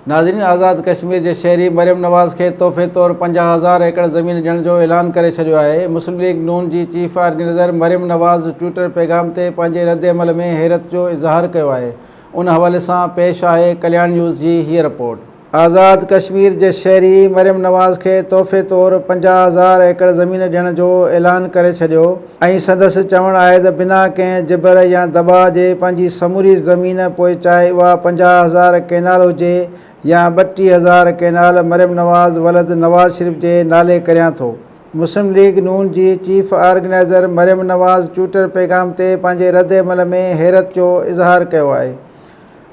ناظرين آزاد ڪشمير جي شهري مريم نواز کي تحفي طور پنجاهه هزار ايڪڙ زمين ڏيڻ جو اعلان ڪري ڇڏيو آهي مسلم ليگ نون جي chief organiser Maryam Nawaz Twitter پيغام تي پنهنجي رد عمل ۾ حيرت جو اظهار ڪيو آهي ان حوالي سان پيش آهي ڪلياڻ نيوز جي هيء رپورٽ آزاد ڪشمير جي شهري مريم نواز کي تحفي طور پنجاهه هزار ايڪڙ زمين ڏيڻ جو اعلان ڪري ڇڏيو ۽ سندس چوڻ آهي ته بنا ڪنهن جبر يا دٻاء جي پنهنجي سموري زمين پوء چاهي اها پنجاهه هزار ڪينال هجي يا ٻٽيهه هزار ڪينال مريم نواز ولد نواز شريف جي نالي ڪريان ٿو. مسلم ليگ نون جي chief organiser Maryam Nawaz Twitter پيغام تي پنهنجي رد عمل ۾ حيرت جو اظهار ڪيو آهي.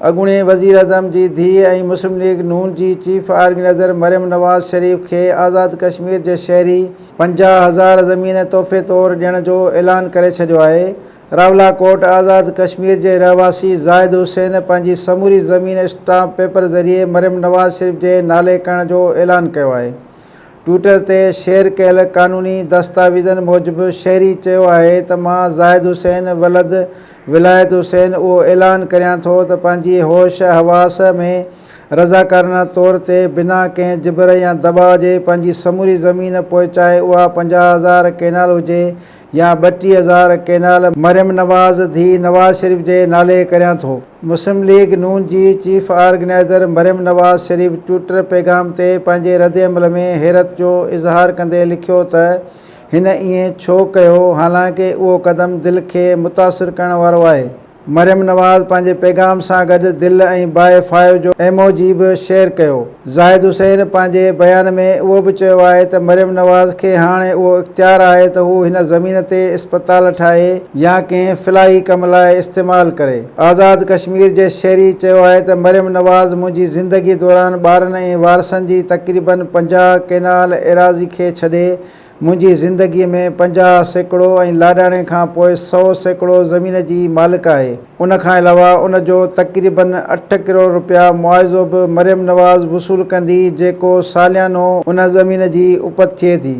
اڳوڻي وزيراعظم جي ڌيء ۽ مسلم ليگ ن جي چيف آرگنائيزر مريم نواز شريف کي آزاد ڪشمير جي شهري پنجاهه هزار زمين تحفي طور ڏيڻ جو اعلان ڪري ڇڏيو آهي راولاڪوٽ آزاد ڪشمير جي رهواسي زاهد حسين پنهنجي سموري زمين اسٽامپ پيپر ذريعي مريم نواز شريف جي نالي ڪرڻ جو اعلان ڪيو آهي ٽوئيٽر تي شيئر ڪيل قانوني دستاويزن موجب شهري چيو آهي ته مان زاهد حسين ولد ولايت حسين اهو اعلان ڪريان ٿو ته پنهنجي هوش حواس ۾ رضاڪارانه طور تي بنا ڪنهن جبر يا دٻاء جي پنهنجي سموري زمين پوء چاهي اها پنجاهه هزار ڪينال هجي يا ٻٽيهه هزار ڪينال مريم نواز ڌيء نواز شريف جي نالي ڪريان ٿو. مسلم ليگ نون جي chief organiser Maryam Nawaz Sharif Twitter پيغام تي پنهنجي ردعمل ۾ حيرت جو اظهار ڪندي لکيو ته هن ائين ڇو ڪيو حالانڪه اهو قدم دل کي متاثر ڪرڻ وارو آهي. مريم نواز پنهنجي پيغام سان گڏ دل ۽ بائي فائو جو ايموجي به شيئر ڪيو. زاهد حسين پنهنجي بيان ۾ اهو به چيو آهي ته مريم نواز کي هاڻي اهو اختيار آهي ته هو هن زمين تي اسپتال ٺاهي يا ڪنهن فلاحي ڪم لاء استعمال ڪري. آزاد ڪشمير جي شهري چيو آهي ته مريم نواز منهنجي زندگي دوران ٻارن ۽ وارثن جي تقريبن پنجاهه ڪينال ايراضي کي ڇڏي، منهنجي زندگيء ۾ پنجاهه سيڪڙو ۽ لاڏاڻي کان پوء سؤ سيڪڙو زمين جي مالڪ آهي. ان کان علاوه ان جو تقريباً اٺ ڪروڙ رپيا معاوضو به مريم نواز وصول ڪندي جيڪو ساليانو ان زمين جي اپت ٿئي ٿي.